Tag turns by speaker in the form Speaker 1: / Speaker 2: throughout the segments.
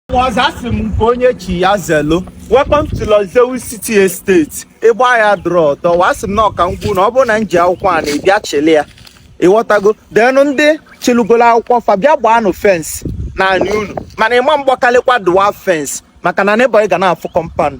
Speaker 1: ọzọ asị m nke onye chi ya zelu welcome to Lozewu City Estate ịgba ya drọ dọwa asị m nọọ ka m gwa unu na ọ bụrụ na m ji akwụkwọ anị bịa chịlị ya ịghọtago then ndị chịlụgolo akwụkwọ fa bịa gbaanụ fence n'anị unu mana ịma mgbakalịkwa dwarf fence maka na neighbour ị ga na-afụ compound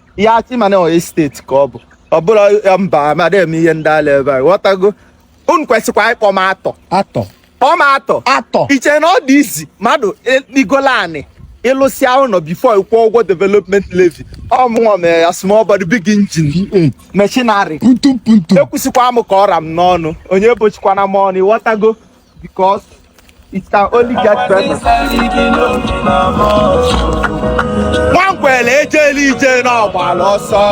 Speaker 1: ihe achị mana estate ka ọ bụ ọ bụrụ mba amada eme ihe ndị ala ebe a ịghọtago unu kwesịkwa ịkpọ m atọ atọ kpọọ m atọ atọ iche na ọ dị easy mmadụ igolu anị ịlụsịa ụnọ before ịkwụ ụgwọ development levy ọ mụnwa mere ya small body big engine machinery ekwusịkwa m ka ọ ra m n'ọnụ onye bochikwana m ọnụ ịghọtago because it can only get better. nwankwele ejelu ije na ọ gbala ọsọ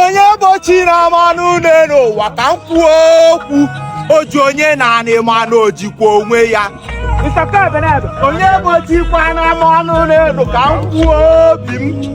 Speaker 1: onye bochina m ọnụ n'enu ụwa ka m kwuo okwu o ji onye n'anị mana o jikwa onwe ya onye bochikwana m ọnụ n'enu ka m kwuo obi m